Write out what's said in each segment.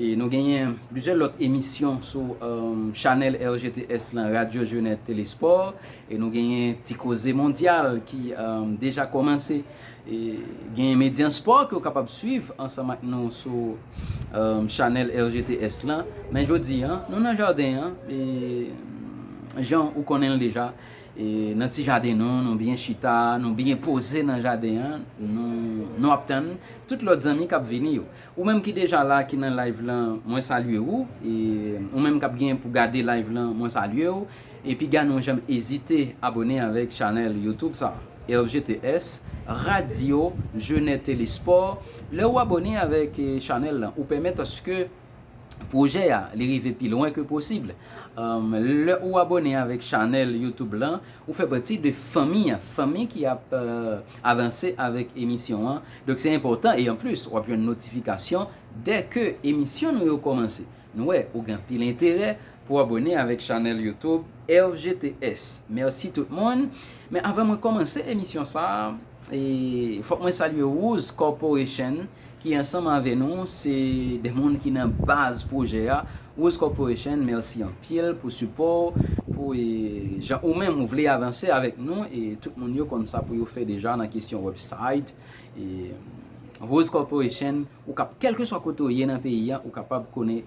E nou genyen plizyè lòt emisyon sou chanèl RGTS lan, Radyo Jeunet Tele Sport. E nou genyen Ti Koze Mondyal ki deja kòmanse. E genyen Medyan Spò ke w kapab swiv ansanm ak nou sou chanèl RGTS lan. Men jodi an, nou nan jaden an e jan ou konnen l deja, e nan ti jaden nou, nou byen chita, nou byen poze nan jaden an, nou ap tann tout lòt zanmi k ap vini yo. Ou menm ki deja la ki nan live lan mwen salye ou e ou menm kap gen pou gade live lan mwen salye ou e piga nou janm ezite abone avèk chanèl youtube sa RGTS radio jeunè tele sport lè ou abone avèk chanèl lan ou pèmèt aske pwojè a li rive pi lwen ke posib lè ou abone avèk chanèl youtube lan ou fè pati de fanmi a fanmi ki ap avanse avèk emisyon an. Donk se enpòtan e anplis wap jwenn notifikasyon dè ke emisyon nou yo kòmanse. Nou wè ou gen anpil enterè pou abòne avèk chanèl YouTube RGTS. Mèsi tout moun. Men avan mwen kòmanse emisyon sa a, fòk mwen salye Rooz Corporation ki ansanm avè nou se dè moun ki nan baz pwojè a Rose Corporation merci anpil pou support ou pou jan ou menm ou vle avanse avek nou e tout moun yo konn sa pou yo fè deja nan kesyon website e Rose Corporation ou kap kelkeswa kote ou ye nan peyi an ou kapab kone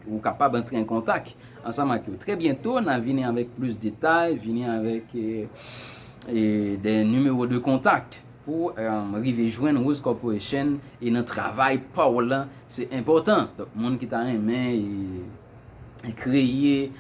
ou kapab antre an kontak ansanm ak yo trè byento na vini avek plis detay vini avek e de numero de kontak. Pou rive jwenn Rose Corporation e nan travay pa w lan, se enpòtan. Donk moun ki ta renmen kreye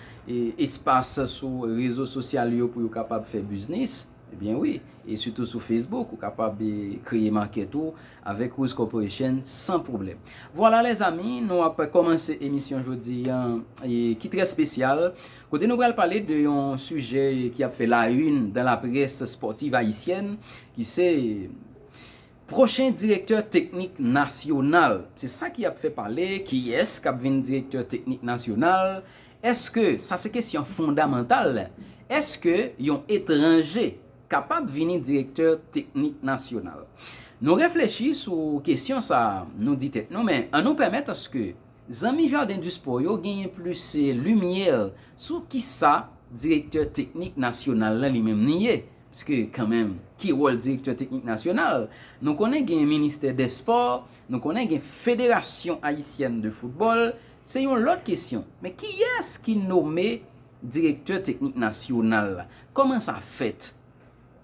espas sou rezo sosyal yo pou yo kapab fè biznis, ebyen wi, e sitou sou Facebook, ou kapab kreye makèt ou avèk Rose Corporation san pwoblèm. Vwala lèzami, nou ap kòmanse emisyon jodi an ki trè spesyal. Kote nou pral pale de yon sijè ki ap fè la une dans la presse sportive haïtienne ki se Pwochen direktè teknik nasyonal. Se sa ki ap fè pale, kiyès kap vin direktè teknik nasyonal? Eske, sa se kesyon fondamantal, eske yon etranje kapab vini direktè teknik nasyonal? Nou reflechi sou kesyon sa a, nou di tèt nou men an nou pèmèt aske. Zanmi Jardin du Sport yo genyen plis limyè sou kisa direktè teknik nasyonal la li menm li ye. Pske kanmenm ki wòl direktè teknik nasyonal? Nou konnen gen ministè dè spò, nou konnen gen federasyon ayisyèn de foutbòl, se yon lòt kesyon. Men kiyès ki nome direktè teknik nasyonal la? Kòman sa fèt?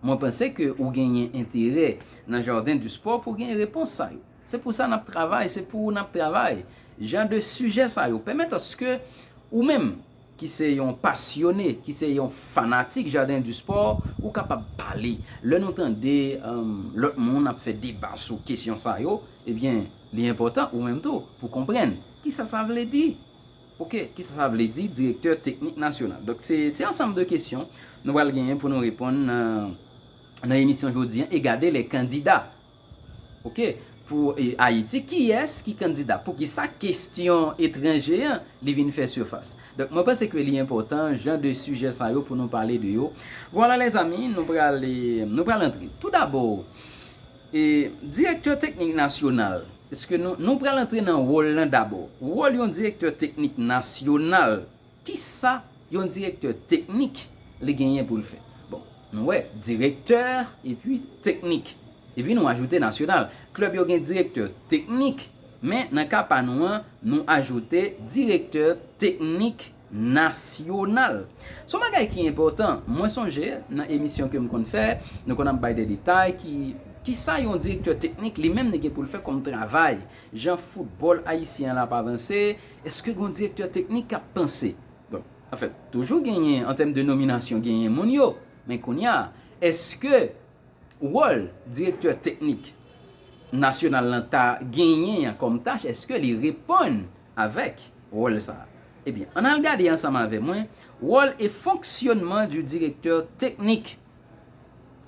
Mwen panse ke ou genyen enterè nan Jardin du Sport pou genyen repons sa yo. Se pou sa n ap travay, se pou ou n ap travay. Jan de sijè sa yo pèmèt aske ou menm ki se yon pasyone, ki se yon fanatik Jardin du Sport, ou kapab pale. Lè nou tande lòt moun ap fè deba sou kesyon sa yo, ebyen li enpòtan ou menm tou pou konprann kisa sa vle di. Ok, ki sa sa vle di direktè teknik nasyonal? Donk se se ansanm de kesyon nou pral genyen pou nou reponn nan nan emisyon jodi an e gade les candidats ok pou Ayiti kiyès ki kandida poukisa kesyon etranje an li vin fè sifas donk mwen panse ke li enpòtan jan de sijè sa yo pou nou pale de yo vwala lèzami nou pral nou pral antre tou dabò. E direktè teknik nasyonal, eske nou, nou pral antre nan wòl lan dabò. Wòl yon direktè teknik nasyonal, kisa yon direktè teknik li genyen pou l fè? Bon, nou wè, direktè epi teknik, epi nou ajoute nasyonal. Klèb yo gen direktè teknik, men nan ka pa nou an, nou ajoute direktè teknik Nasyonal. Son bagay ki enpòtan. Mwen sonje, nan emisyon ke m konn fè, nou konn ap bay de detay ki, kisa yon direktè teknik li menm li gen pou l fè kòm travay. Jan foutbòl ayisyen an l ap avanse, èske gon direktè teknik k ap panse? Bon, anfèt, toujou genyen, an tèm de nominasyon, genyen moun yo. Men kounye a, èske wòl direktè teknik nasyonal lan ta genyen an kòm tach, èske li reponn? avèk wòl sa a. Ebyen, ann al gade ansanm avè mwen wòl e fonksyònman du directeur technique.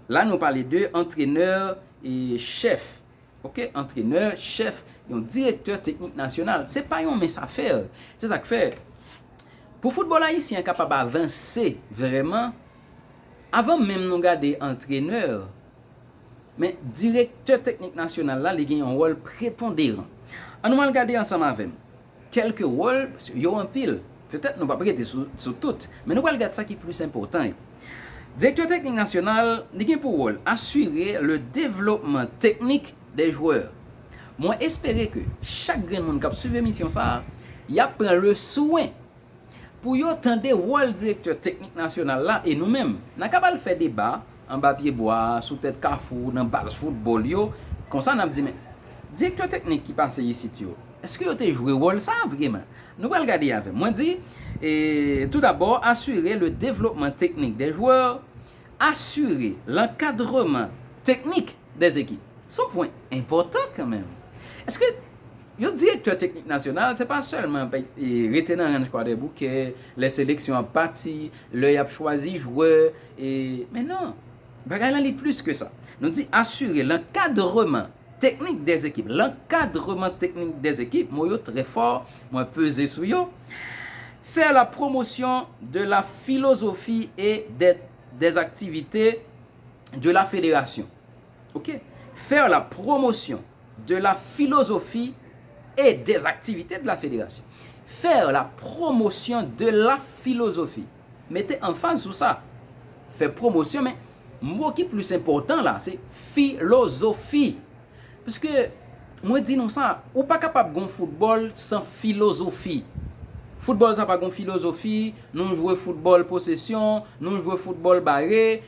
La nou pale de antrenèr e chèf. Ok, antrenè, chèf, yon direktè teknik nasyonal. Se pa yon mens afè. Se sa k fè, pou foutbòl ayisyen an kapab avanse vrèman, avan menm nou gade antrenè, Men, Direktè Teknik Nasyonal la, li gen yon wòl preponderan. An nou al gade ansanm avè m kèlke wòl, paske yo anpil, petèt nou p ap rete sou tout, men nou pral gad sa ki plis enpòtan yo. Direktè Teknik Nasyonal, li gen pou wòl asire le devlopman teknik des joueurs. Mwen espere ke chak grenn moun k ap swiv emisyon sa a, y ap pran le swen. pou yo tande wòl direktè teknik nasyonal la e nou menm. N a kab al fè deba anba pye bwa, sou tèt kafou, nan baz foutbòl yo. Konsa n ap di men, direktè teknik ki pase isit yo, èske yo te jwe wòl sa a vreman? Nou pral gade avè m. Mwen di, Tout dabò, asire le devlopman teknik dè jwè, asire lankadreman teknik dè ekip. S on pwen enpòtan kanmenm. Èske. Yon direktè teknik nasyonal, se pa sèlman rete nan ranch kwadèboukè, lè seleksyon ap pati, lè y ap chwazi jwè, men non, bagay lan li plis ke sa. Nou di asire lankadreman teknik dè ekip. Lankadreman teknik dè ekip, mo yo trè fò, mwen peze sou yo. Faire la promotion de la philosophie et des activités de la fédération. Ok. Faire la promotion de la philosophie et des activités de la Fédération. Faire la promotion de la philosophie. Mete anfaz sou sa. Fè pwomosyon men mo ki plis enpòtan la se filozofi. Pske mwen di nou sa, ou pa kapab gon foutbòl san filozofi. Foutbòl sa pa gon filozofi, nou jwe foutbòl posesyon, nou jwe foutbòl bare.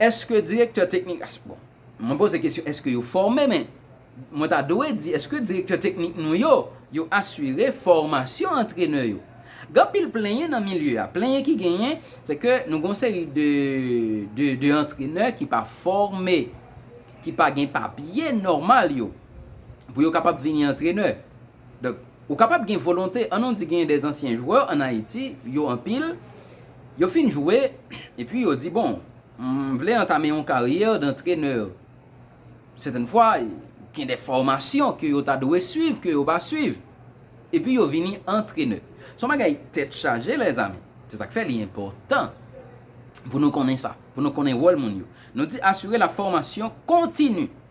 Eske direktè teknik as bon mwen poze kesyon eske yo fòme men mwen ta dwe di eske direktè teknik nou yo yo asire fòmasyon antrenè yo gen anpil plenyen nan milye a plenyen ki genyen se ke nou gen yon seri de de de antrenè ki pa fòme ki pa gen papye nòmal yo pou yo kapab vini antrenè. Donk, ou kapab gen volonte, an nou di genyen de zansyen jwè an Ayiti, yo anpil, yo fin jwe, epi yo di bon, m vle antame yon karyè dantrenè. Sètèn fwa, gen de fòmasyon ke yo ta dwe swiv, ke yo pa swiv, epi yo vini antrenè. Se yon bagay tèt chaje lèzami. Se sa k fè li enpòtan pou nou konnen sa, pou nou konnen wòl moun yo. Nou di asire la fòmasyon kontini.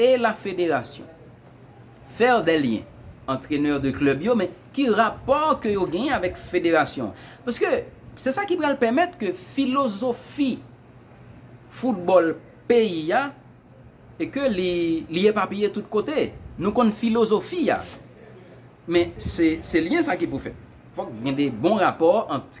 E la federasyon? Faire des liens antrenè de klèb yo men ki rapò ke yo genyen avèk federasyon an? Paske se sa ki pral pèmèt ke filozofi foutbòl peyi a e ke li li epapiye tout kote. Nou konn filozofi a men se se lyen sa ki pou fèt. Fòk gen de bon rapò ant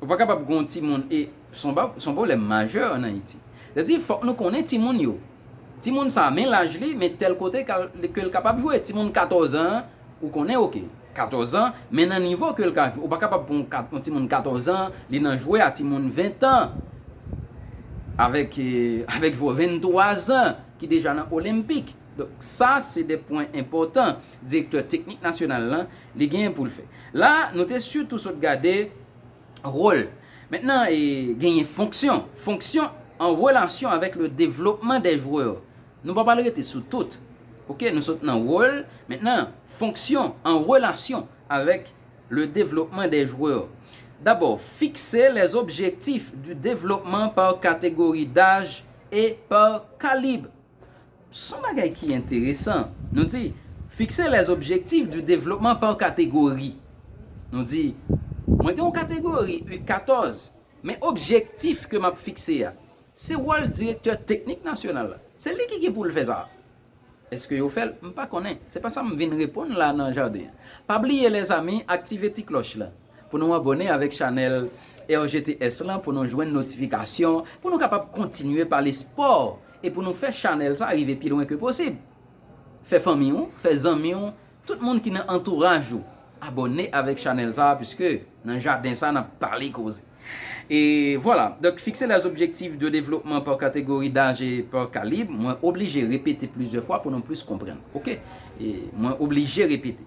Ou pa kapab gen yon timoun e se yon pwoblèm majè an Ayiti. Sa vle di fòk nou konnen timoun yo. Timoun sa a men laj li, men tèl kote ke l kapab jwe. Timoun katòzan an, ou konnen ok, katòzan, men nan nivo ke l ka jwe. Ou pa kapab pran yon timoun katòzan li nan jwe a timoun ventan, avèk jwè venntwazan ki deja nan olenpik. Donk sa se de pwen enpòtan direktè teknik nasyonal lan Li genyen poul fè. La nou te sitou sot gade role. Mentnan genyen fonksyon. Fonksyon an relasyon avèk le devlopman dè jwè. Nou pa pral rete sou tout. Ok nou sot nan role. Mentnan fonksyon an relasyon avèk le devlopman dè jwè. Dabò fikse les objectifs du développement par catégorie d'âge et par calibre. Son bagay ki enteresan. Nou di, Fixer les objectifs du développement par catégorie. Nou di, Mwen gen yon kategori U 14, men objektif ke m ap fikse a, se wòl direktè teknik nasyonal la. Se li ki gen pou l fè sa a. Eske yo fè l? M pa konnen. Se pa sa m vin reponn la nan jaden an. Pa bliye lèzami, aktive ti klòch lan. Pou nou abòne avèk chanèl RGTS lan pou nou jwenn notifikasyon pou nou kapab kontinye pale spò e pou nou fè chanèl sa rive pi lwen ke posib. Fè fanmi w, fè zanmi w, tout moun ki nan antouraj ou abòne avèk chanèl sa puiske nan jaden sa nap pale koze. E vwala, donk fikse lè zobjektif de devlopman pa kategori daj e pa kalib, mwen oblije repete plizyè fwa pou nou plis konprann. Ok. E mwen oblije repete.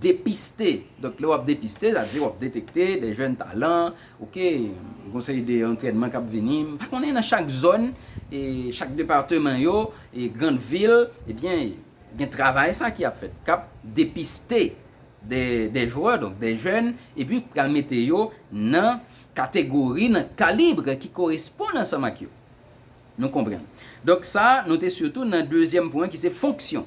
Depiste, donk lè w ap depiste, sa vle di w ap detekte de jèn talan, ok, gen yon seri de antrènman k ap vini, m pa konnen nan chak zòn, e chak depateman yo, e grand vil, ebyen gen travay sa ki ap fèt, k ap depiste de de jwè, donk de jèn, epi pral mete yo nan kategori, nan kalibre ki koresponn ansanm ak yo. Nou konprann. Donk sa nou te sitou nan dezyèm pwen ki se fonksyon.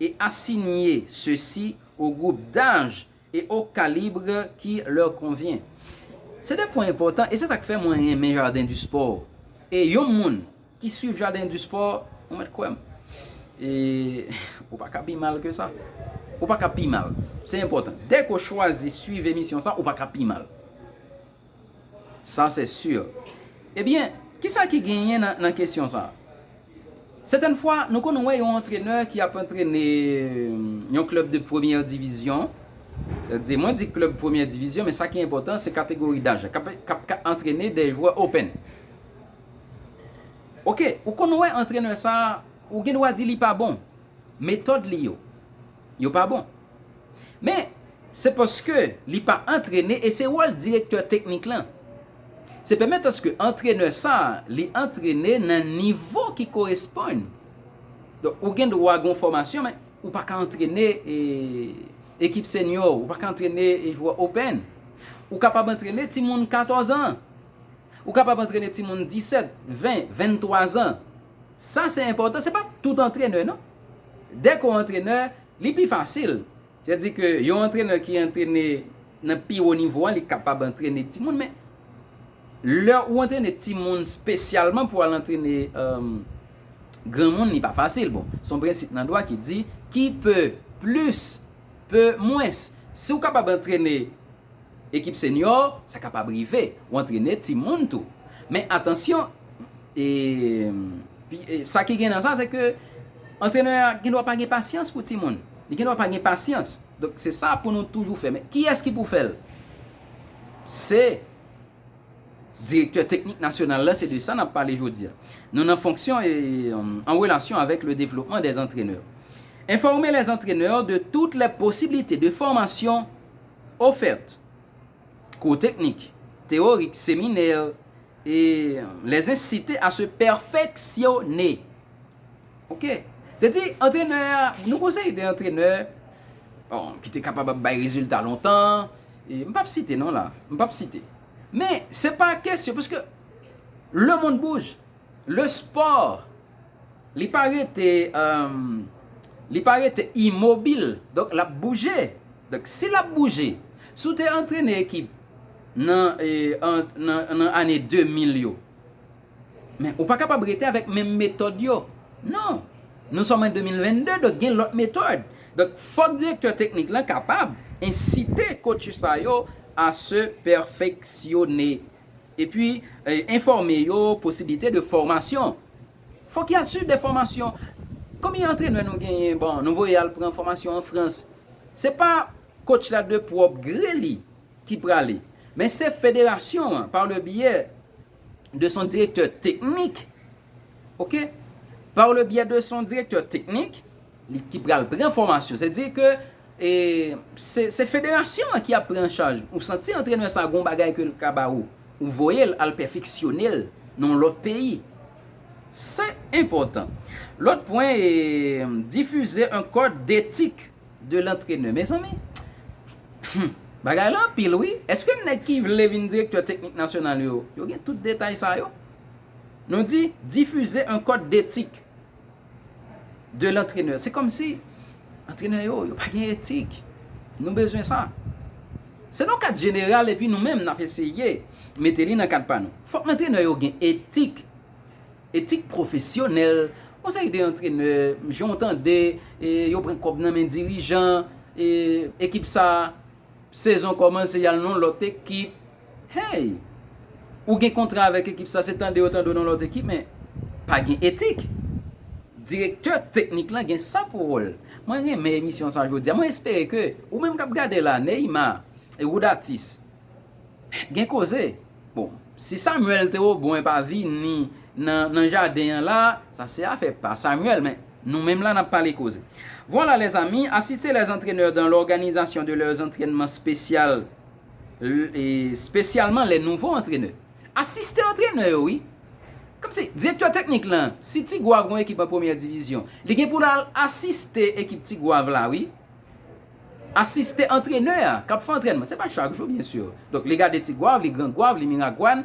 et assigner ceux-ci aux groupes d'âge et au calibre qui leur convient. Se 2 pwen enpòtan e se sak fè mwen renmen Jardin du Sport e yon moun ki swiv Jardin du Sport ou mèt kwè m e ou pa ka pi mal ke sa. Ou pa ka pi mal. Se enpòtan. Dèke w chwazi swiv emisyon sa ou pa ka pi mal. Sa se sur. Ebyen, kisa ki genyen nan kesyon sa? Sètèn fwa, nou konn wè yon antrenè ki ap antrene yon klèb de premyè divizyon, sa vle di, mwen di klèb premyè divizyon, men sa ki enpòtan se kategori daj la, k ap antrene de jwè open. Ok, ou konn wè antrenè sa, ou gen dwa di li pa bon. Metòd li yo. yo pa bon. Men, se paske li pa antrene e se wòl direktè teknik lan. Se pèmèt aske antrenè sa li antrene nan nivo ki koresponn. Donk, ou gen dwa gen yon fòmasyon men, ou pa ka antrene ekip senyò, ou pa ka antrene jwè open. Ou kapab antrene timoun 14 an. Ou kapab antrene timoun 17, 20, 23 an. Sa se enpòtan, se pa tout antrenè non. Dè ke w antrenè, li pi fasil. Se di ke yon antrenè ki antrene nan pi wo nivo an, li kapab antrene timoun. Men, lè ou antrene timoun spesyalman pou al antrene granmoun, li pa fasil. Bon, se yon prensip nan dwa ki di, ki peu plus, peut moins. Si ou kapab antrene ekip senyò, sa kapab rive, ou antrene timoun tou. Men, atansyon, E pi sa ki gen nan sa se ke antrenè a gen dwa pa gen pasyans pou timoun. Li gen dwa pa gen pasyans. Donk se sa pou nou toujou fè. Men kiyès ki pou fè l? Se direktè teknik nasyonal la, se de sa n ap pale jodi a. Nou nan fonksyon e an relasyon avèk le devlopman dè antrenè. Enfòme les entraineurs de toutes les possibilités de formation offertes, kou teknik, teyorik, seminè, E les inciter à se perfectionner. Ok. Se di antrenè a, nou konseye de antrenè, bon, ki te kapab ap bay rezilta lontan, e m p ap site non la, m p ap site. Men, se pa kesyon, paske, le monde bouge, le sport Li pa rete Li pa rete imobil donk lap bouje donk si lap bouje si w te antrene ekip nan nan ane 2000 yo men ou pa kapab rete avèk menm metòd yo non nou sòm an 2022 donk gen lòt metòd donk fòk direktè teknik lan kapab ensite kotch sa yo a se pèfeksyone Epi, enfòme yo posiblite de fòmasyon. Fòk y al swiv de fòmasyon. Konbyen antrenè nou genyen, bon, nou voye al pran fòmasyon an Frans. Se pa kotch la de pwòp gre li ki prale, men se federasyon an pa le byè de son direktè teknik, ok, pa le byè de son direktè teknik. Li ki pral pran fòmasyon. Se di ke se federasyon an ki ap pran an chaj. Ou santi antrenè sa gon bagay ke l ka ba ou. Ou voye l al pèfeksyone l nan yon lòt peyi. Se enpòtan. Lòt pwen e difize un code d'etik de l'antrenè. Mezanmi! Hum! Bagay la anpil wi. Eske nèg ki vle vin direktè teknik nasyonal yo, yo gen tout detay sa yo? Nou di, difize un code d'etik. de l'entraineur se komsi antrenè yo yo pa gen etik nou bezwen sa se nan kad jeneral epi nou menm nap eseye mete li nan kad pa nou fòk antrenè yo gen etik etik pwofesyonèl yon seri de antrenè jan w tande yo pran kòb nan men dirijan ekip sa sezon kòmanse yal nan lòt ekip Hey! Ou gen kontra avèk ekip sa se tande yo tande w nan lòt ekip men pa gen etik. Direktè teknik lan gen sa pou wòl. Mwen renmen emisyon sa jodi a. Mwen espere ke ou menm kap gade la, Neymar, e Rodatis gen koze. Bon, si Samuel te o buen pa vini nan nan jaden an la, sa se afè pa Samuel men nou menm la nap pale koze. Voilà les amis, assistez les entraineurs dans l'organisation de leurs entraînements spéciales Spesyalman lè nouvo antrenè. Asistan antrenè yo wi. Kòmsi, direktè teknik lan, si Ti Gwav gon ekip an premyè divizyon, li gen pou l al asiste ekip Ti Gwav la wi. Asiste antrenè a k ap fè antrènman. Se pa chak jou byen sur. Donk li gade Ti Gwav, li Gran Gwav, li Miragwàn,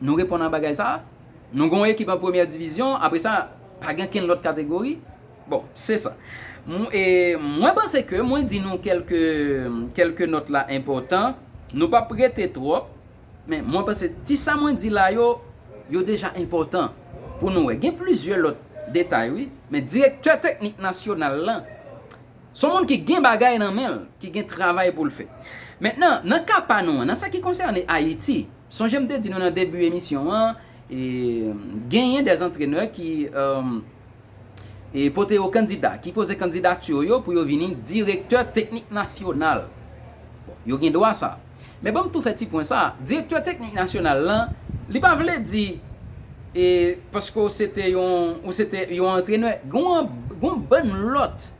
Nou reponn a bagay sa a? Nou gen yon ekip an premyè divizyon, apre sa, pa gen kenn lòt kategori? Bon, se sa. Mwen panse ke mwen di nou kèlke, kèlke nòt la enpòtan. Nou pa p rete twòp, men mwen panse ti sa mwen di la yo, yo deja enpòtan pou nou wè. Gen plizyè lòt detay wi, men direktè teknik nasyonal lan, se yon moun ki gen bagay nan men l, ki gen travay pou l fè. Mentnan, nan ka pa nou an, nan sa ki konsène Ayiti, Sonje m te di nou nan debi emisyon an, genyen des antrenè ki pote yo kandida, ki poze kandidati yo pou yo vini direktè teknik nasyonal. Bon, yo gen dwa sa. Men banm tou fè ti pwen sa, direktè teknik nasyonal lan, li pa vle di paske w se te yon, ou se te yon antrenè, gon bann lòt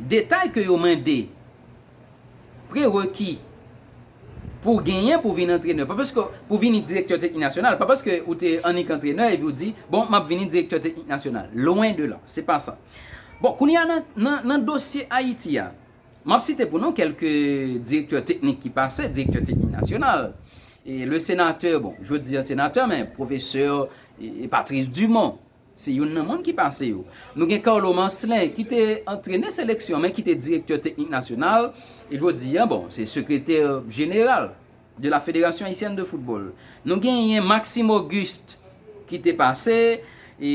detay ke yo mande. Prereki pou w genyen pou w vin antrenè, pa paske w, pou w vini direktè teknik nasyonal, pa paske ou te annik antrenè epi w di, bon, m ap vini direktè teknik nasyonal. Lwen de la. Se pa sa. Bon, kounye a nan, nan, nan dosye Ayiti a, m ap site pou nou kèlke direktè teknik ki pase, direktè teknik nasyonal. E le senatè, bon, jodi a senatè, men pwofesè Patrice Dumont, Se youn nan moun ki pase yo. Nou gen Carlo Marcelin ki te antrenè seleksyon men ki te direktè teknik nasyonal e jodi a bon se sekretè jeneral de la Fédération Haïtienne de Football. Nou genyen Maxime Auguste ki te pase e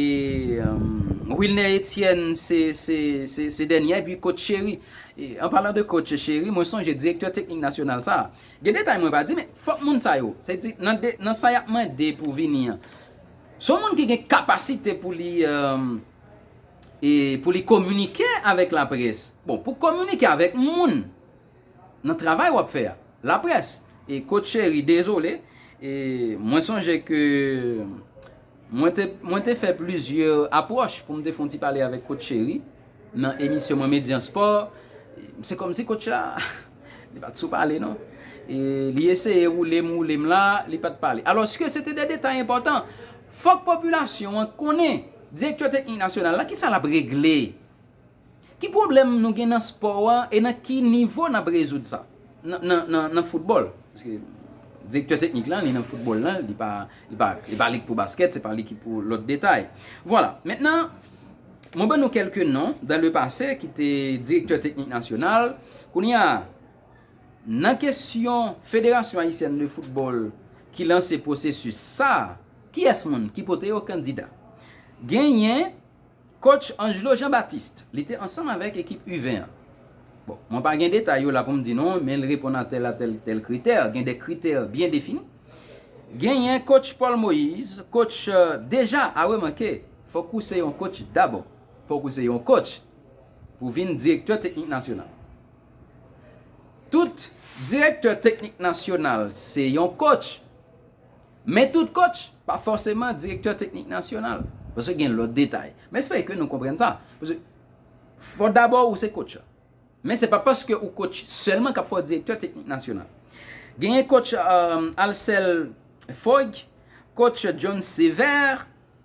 Wilner Etienne se dènyè epi coach Chéry. An palan de coach Chéry mwen sonje direktè teknik nasyonal sa a. Gen detay mwen pa di men fòk moun sa yo se di nan sa y ap mande pou vini an. Se yon moun ki gen kapasite pou li e pou li kominike avèk laprès. Bon, pou kominike avèk moun nan travay w ap fè a. Laprès. E kot cheri, dezole, e mwen sonje ke mwen te mwen te fè plizyè apwòch pou m te fè yon ti pale avèk kot cheri nan emisyon mwen Median Sport. Se kòmsi kot cha. Li pa t sou pale non. Li eseye woule m woule m la, li pa t pale. Alòske se te de detay enpòtan. Fòk popilasyon an konnen, direktè teknik nasyonal la, ki sa l ap regle? Ki pwoblèm nou gen nan spò a e nan ki nivo n ap rezoud sa? Nan foutbòl, paske direktè teknik la, li nan foutbòl la, li pa lig pou baskèt, se pa li ki pou lòt detay. Vwala. Mentnan. Mwen ban nou kèlke non dan le pase ki te direktè teknik nasyonal. Kounye a, nan kesyon Federasyon Ayisyèn de Foutbòl ki lanse pwosesis sa a, kiyès moun ki pote yo kandida? Genyen kotch Angelo Jean Baptiste, li te ansanm avèk ekip U20 an. Bon, mwen pa gen detay yo la pou m di nou, men li reponn a tèl a tèl tèl kritè, gen de kritè byen defini. Genyen kotch Paul Moïse, kotch deja a remanke. Fòk ou se yon coach dabò. Fòk ou se yon coach pou w vin direktè teknik nasyonal. Tout direktè teknik nasyonal se yon coach, men tout coach pa fòseman direktè teknik nasyonal, paske gen lòt detay. M espere ke nou konprann sa. Paske fòk dabò ou se coach. Men se pa paske ou coach sèlman k ap fè w direktè teknik nasyonal. Genyen coach Alcel Foig, coach John Sever,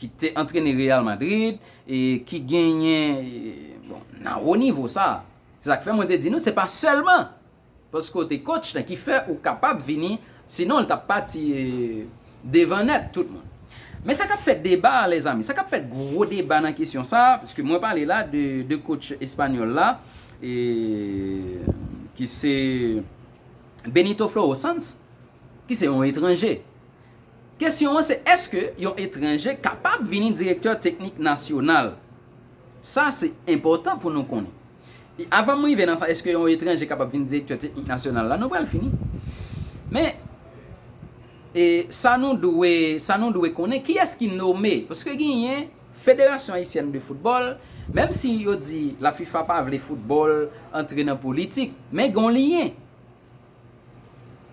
ki te antrene Real Madrid e ki genyen bon nan wo nivo sa a. Se sa k fè mwen te di nou se pa sèlman paske w te kotch la ki fè ou kapab vini sinon l t ap pati devan nèt tout moun. Men sa k ap fè deba a lèzami, sa k ap fè gwo deba nan kesyon sa a paske mwen pale la de de kotch espanyòl la e ki se Benito Floro Sanz ki se yon etranje. Kesyon an se èske yon etranje kapab vini direktè teknik nasyonal? Sa se enpòtan pou nou konnen. E avan m rive nan sa èske yon etranje kapab vini direktè teknik nasyonal la nou pral fini. Men e sa nou dwe sa nou dwe konnen kiyès ki nome paske genyen federasyon ayisyèn de foutbòl menm si yo di lafifa pa vle foutbòl antre nan politik men gen yon lyen.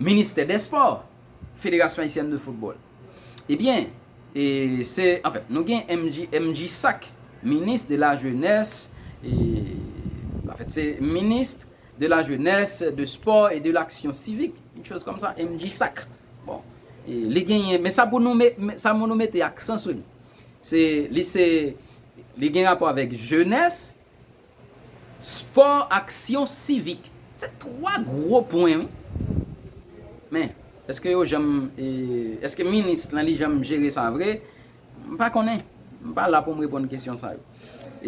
Ministè dè spò, Federasyon Ayisyèn de Foutbòl. Ebyen, e se, anfen, nou gen MJ, MJSAC, Ministre de la Jeunesse et, anfen, se Ministre de la Jeunesse, de Sport et de l'Action Civique, une chose comme ça, MJSAC. Bon, e li genyen, men sa pou nou me, sa pou nou mete aksan sou li, se, li se, li gen rapò avèk Jeunesse, Spò ak syans sivik. Se 3 gwo pwen wi. Men, eske yo janm, eske minis lan li janm jere sa vre? M pa konnen. M pa la pou m reponn kesyon sa yo.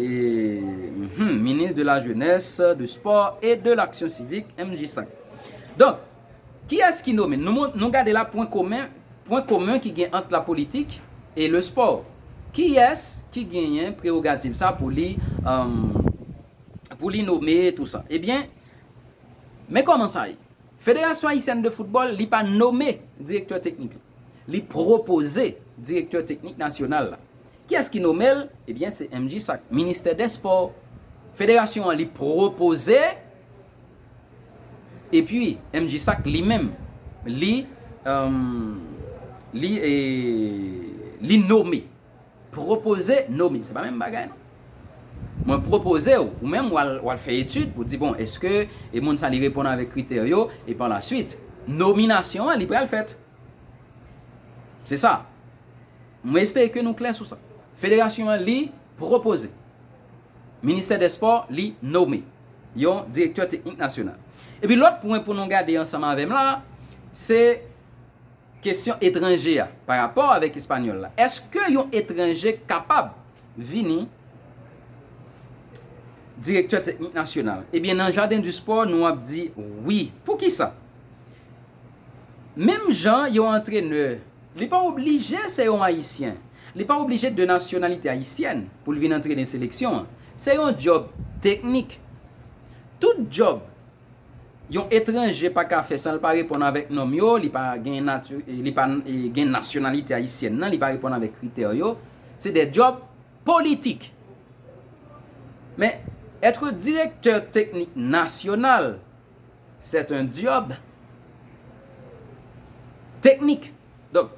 Hum, Ministre de la Jeunesse, du Sport et de l'Action Civique, MJSAC. Donk. Kiyès ki nome? Nou mont, nou gade la pwen komen, pwen komen ki gen ant la politik e le spò. Kiyès ki genyen prerogativ sa pou li, emm, pou li nome tou sa? Ebyen, men kòman sa ye. Federasyon Ayisyèn de Foutbòl, li pa nome direktè teknik li. Li pwopoze direktè teknik nasyonal la. Kiyès ki nome l? Ebyen, se MJSAC, Ministè dè Spò. Federasyon an li pwopoze. Epi MJ Sak li menm li li li nome pwopoze nome se pa menm bagay non mwen pwopoze w ou menm wal fè etid pou di bon eske moun sa li reponn avèk kritè yo e pa la swit nominasyon an li pral fèt se sa mwen espere ke nou klè sou sa federasyon an li pwopoze ministè dè spò li nome. yon direktè teknik nasyonal. Epi lòt pwen pou nou gade ansanm avè m la a, se kesyon etranje a pa rapò avèk espanyòl la. Èske yon etranje kapab vini direktè teknik nasyonal? Ebyen nan Jardin du Sport nou ap di wi. Poukisa? Menm jan yon antrenè Li pa oblije se yon Ayisyen. Li pa oblije de nasyonalite ayisyèn pou l vin antre nan seleksyon an. Se yon djòb teknik. Tout djòb yon etranje pa ka fè san l pa reponn avèk nòm yo, li pa gen nati, li pa gen nasyonalite ayisyèn nan, li pa reponn avèk kritè yo, se de djòb politik. Men, etre direktè teknik nasyonal. C'est un job technique donk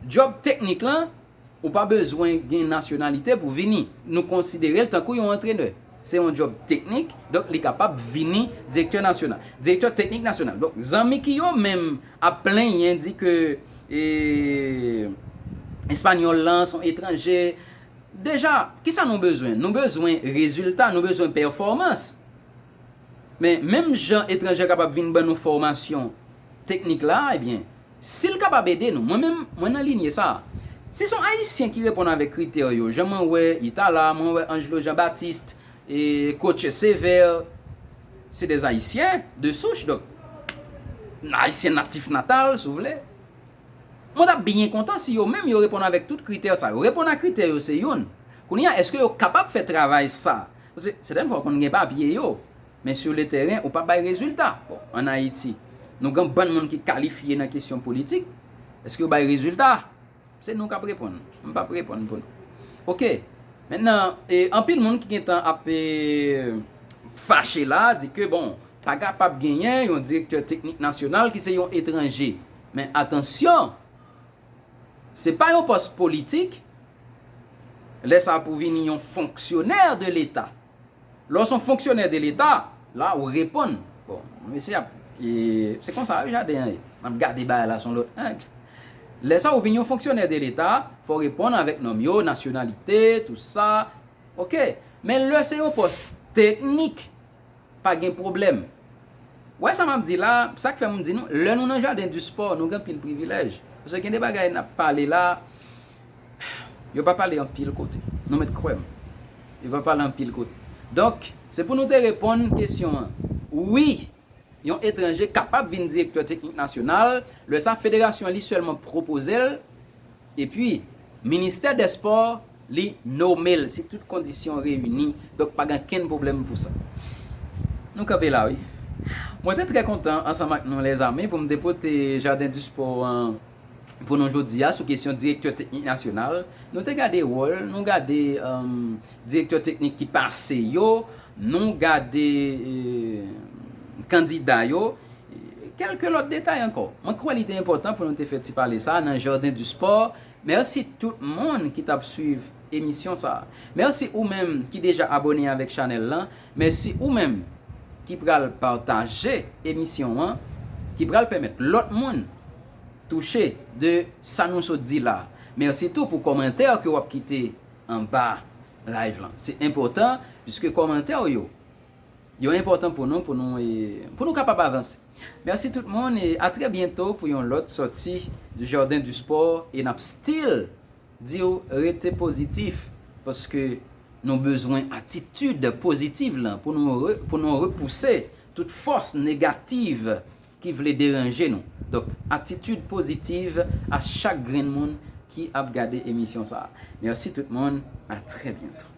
job teknik lan ou pa bezwen gen nasyonalite pou vini nou konsidere l tankou yon antrenè se yon job teknik donk li kapab vini direktè nasyonal direktè teknik nasyonal donk zanmi ki yo menm ap plenyen di ke espanyòl lan son etranje deja kisa nou bezwen nou bezwen rezilta nou bezwen pèfòmans. Men, menm jan etranjè kapab vin ban nou fòmasyon teknik la a, ebyen, si l kapab ede nou, mwen menm, mwen nan linye sa a. Si s on Ayisyen ki reponn avèk kritè yo, jan mwen wè Itala, mwen wè Angelo Jean Baptiste, e Coach Sévère, se des Haïtiens de souche, donk, Ayisyen natif natal, si w vle, mwen t ap byen kontan si yo menm yo reponn avèk tout kritè sa yo. Reponn a kritè yo se youn. Kounye a, èske yo kapab fè travay sa a? Paske, sèten fwa ou konn gen papye yo, men sur le terrain ou pa bay rezilta. Bon, an Ayiti, nou gen yon bann moun ki kalifye nan kesyon politik, eske yo bay rezilta? Se nou k ap reponn, m p ap reponn pou nou. Ok, mentnan, e, anpil moun ki gen tan ap, e, fache la, di ke, bon, pa kapab genyen yon direktè teknik nasyonal ki se yon etranje. Men, atansyon! Se pa yon pòs politik, lè sa pou vini yon fonksyonè de leta. Lè w son fonksyonè de leta, la ou reponn. Bon, mesye ap, se konsa wi jaden an ye. M ap gade bagay la son lòt ang. Lè sa ou vin yon fonksyonè de leta, fò w reponn avèk nòm yo, nasyonalite, tout sa. Ok. Men lè se yon pòs teknik. Pa gen pwoblèm. Wè sa map di la, sak fè m di nou, lè nou nan jaden di spò, nou gen anpil privilèj. Paske gen de bagay nap pale la, yo pa pale anpil kote. Nou mèt kwè m. Yo pa pale anpil kote. Donk, se pou nou te reponn kesyon an. Wi, yon etranje kapab vin direktè teknik nasyonal, lè sa federasyon li sèlman pwopoze l. Epi, ministè dè spò, li nome l si tout kondisyon reyini. Donk pa gen okenn pwoblèm pou sa. Nou kanpe la wi. Mwen te trè kontan ansanm ak nou lèzami pou m te pote Jardin du Sport an pou nou jodi a sou kesyon direktè teknik nasyonal. Nou te gade wòl, nou gade. Direktè teknik ki pase yo, nou gade kandida yo, kèlke lòt detay ankò. Mwen kwè li te enpòtan pou nou te fè ti pale sa nan Jardin du Sport. Mèsi tout moun ki t ap swiv emisyon sa. Mèsi ou menm ki deja abòne avèk chanèl lan. Mèsi ou menm ki pral pataje emisyon an, ki pral pèmèt lòt moun touche de sa nou sot di la. Mèsi tou pou kòmantè ke w ap kite anba live lan se enpòtan piske kòmantè ou yo yo enpòtan pou nou pou nou pou nou kapab avanse merci tout moun e a trè byento pou yon lòt sòti du jardin du sport e nap still diw rete pozitif paske nou bezwen atitid pozitiv lan pou nou pou nou repouse tout fòs negativ ki vle deranje nou donk atitid pozitiv a chak grenn moun ki ap gade emisyon sa merci tout moun a trè byento.